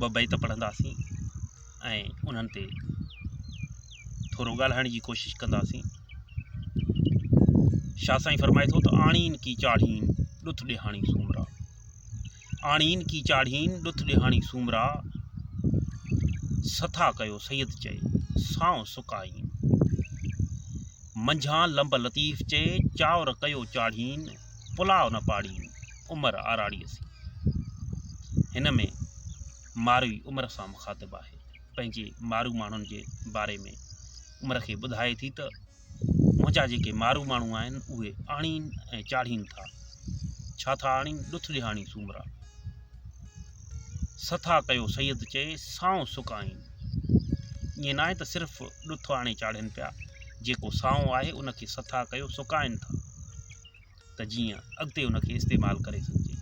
ٻه بيت پڙهنداسين ۽ انهن تي ٿورو ڳالهائڻ جي ڪوشش ڪنداسين شاهه سائين فرمائي ٿو ته آڻين ڪي چاڙهين ڏٿ ڏيهاڻي سومرا آڻين ڪي چاڙهين ڏٿ ڏيهاڻي سومرا سٿا ڪيو سيد چئي سانو سڪائين منجهان لمب لطيف چئي چاور ڪيو چاڙهين پلاء نه پاڙي عمر آراڙيء سين. هن ۾ ماروي عمر سان مخاطب آهي. پنهنجي مارو ماڻهن جي باري ۾ عمر کي ٻڌائي ٿي ته منهنجا جيڪي مارو ماڻهو آهن اهي آڻين ۽ چاڙهين ٿا. ڇا ٿا آڻين ڏٿ ڏيهاڻي سومرا. سٿا ڪيو سيد چئي سانء سڪائين. ائين ناهي ته صرف ڏٿ آڻي چاڙهين پيا، جيڪو سانء آهي ان کي سٿا ڪيو سڪائين ٿا. ته جيئن اڳتي ان کي استعمال ڪري سگهجي.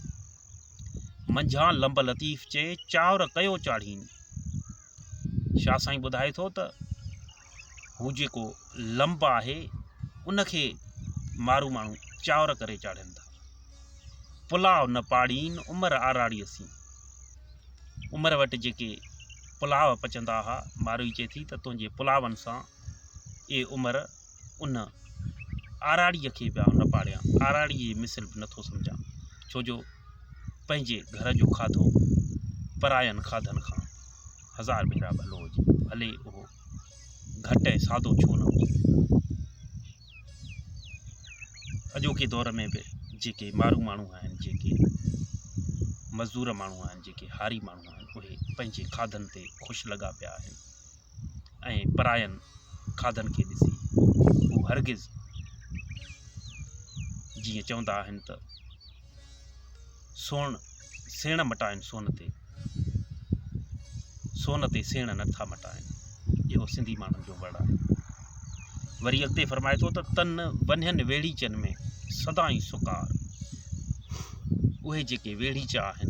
منجهان لنب لطيف چئي چانور ڪيو چاڙهين. شاهه سائين ٻڌائي ٿو ته هو جيڪو لنب آهي ان کي مارو ماڻهو چانور ڪري چاڙهين ٿا. پلاء نه پاڙين عمر آراڙي سين. عمر وٽ جيڪي پلاء پچندا ها ماروئي چئي ٿي ته تنهنجي پلاون سان اي عمر ان آراڙيء کي پيا نه پاڙيان، آراڙيء جي مثل به نٿو سمجهان، ڇو جو پنهنجي گهر جو کاڌو پراين کاڌن کان هزار ڀيرا ڀلو هجي، ڀلي اهو گهٽ ۽ سادو ڇو نه هجي. اڄوڪي دور ۾ به جيڪي مارو ماڻهو آهن، جيڪي مزدور ماڻهو آهن، جيڪي هاري ماڻهو آهن، اهي پنهنجي کاڌن تي خوش لڳا پيا آهن. ۽ پراين کاڌن کي ڏسي هو هرگز جيئن چوندا آهن ته سوڻ سيڻ مٽائن سون تي سون تي سيڻ نٿا مٽائن اهو سنڌي ماڻهن جو وڙ آهي وري اڳتي فرمائي ٿو ته تن ونهن ويڙيچن ۾ سدائين سڪار اهي جيڪي ويڙيچا آهن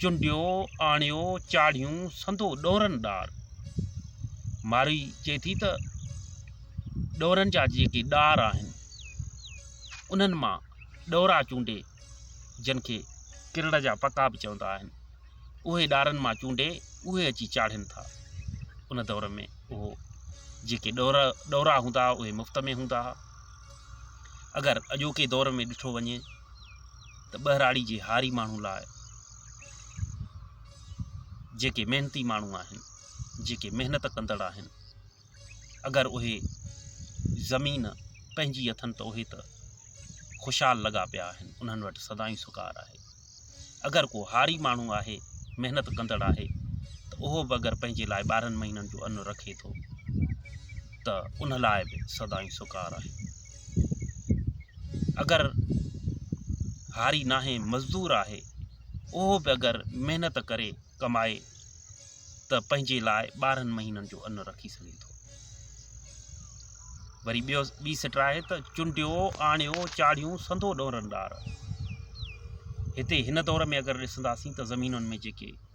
چنڊيو آڻيو چاڙهيون سندو ڏورن ڏار. مارئي چئي ٿي ته ڏورن جا جيڪي ڏار آهن انهن مان ڏورا چونڊي جن کي ڪرڙ جا پکا به چوندا آهن اهي ڏارن مان چونڊي اهي اچي چاڙهين ٿا. ان دور ۾ اهو جيڪي ڏور ڏورا هوندا اهي مفت ۾ هوندا اگر اڄوڪي دور ۾ ڏٺو وڃي ته ٻهراڙي جي هاري ماڻهو لاء جيڪي محنتي ماڻهو آهن جيڪي محنت ڪندڙ آهن اگر اهي زمين پنهنجي اٿن ته اهي ته خوشحال لڳا پيا آهن انهن وٽ سدائين سڪار آهي اگر ڪو هاري ماڻهو آهي محنت ڪندڙ آهي ته اهو به اگر پنهنجي لاء ٻارهن مهينن جو ان رکي ٿو ته ان لاء به سدائين سڪار آهي اگر هاري ناهي مزدور آهي اهو به اگر محنت ڪري ڪمائي ته پنهنجي لاء ٻارهن مهينن جو ان رکي سگهي ٿو وري ٻيو ٻي سٽ آهي ته چنڊيو آڻيو چاڙهيون سنڌو ڏورن ڏار هتي هن دور ۾ اگر ڏسنداسين ته زمينن ۾ جيڪي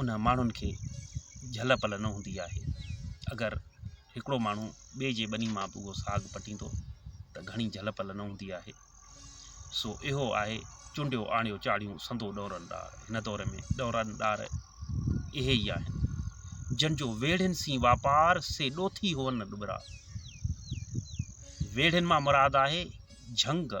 ان ماڻهن کي جهل پل نه هوندي آهي اگر هڪڙو ماڻهو ٻئي جي ٻني مان اهو ساڳ پٽيندو ته گهڻي جهل پل نه هوندي آهي سو اهو آهي چونڊيو آڻيو چاڙهيون سندو ڏورن ڏار هن دور ۾ ڏورن ڏار اهي ئي آهن جن جو ويڙهين سين واپار سي ڏوٿي هون ڏٻرا ويڙهين مان مراد آهي جهنگ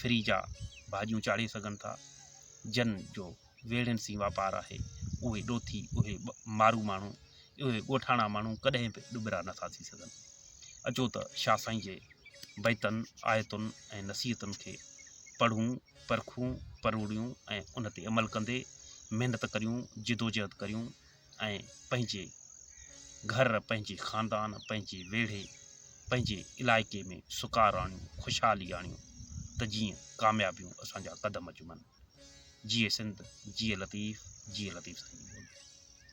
فريجا ڀاڄيون چاڙهي سگهن ٿا جن جو ويڙهين سين واپار آهي اهي ڏوٿي اهي مارو ماڻهو اهي ڳوٺاڻا ماڻهو ڪڏهن به ڏٻرا نٿا ٿي سگهن اچو ته شاهه سائين جي بيتن آيتن ۽ نصيحتن کي پڙهون پرکون پروڙيون ۽ ان تي عمل ڪندي محنت ڪريون جدوجهد ڪريون ۽ پنهنجي گهر پنهنجي خاندان پنهنجي ويڙهي پنهنجي علائقي ۾ سڪار آڻيون خوشحالي آڻيون ته جيئن ڪاميابيون اسان جا قدم چمن جيئي سنڌ جيئي لطيف جيئي لطيف سائين جي ٻولي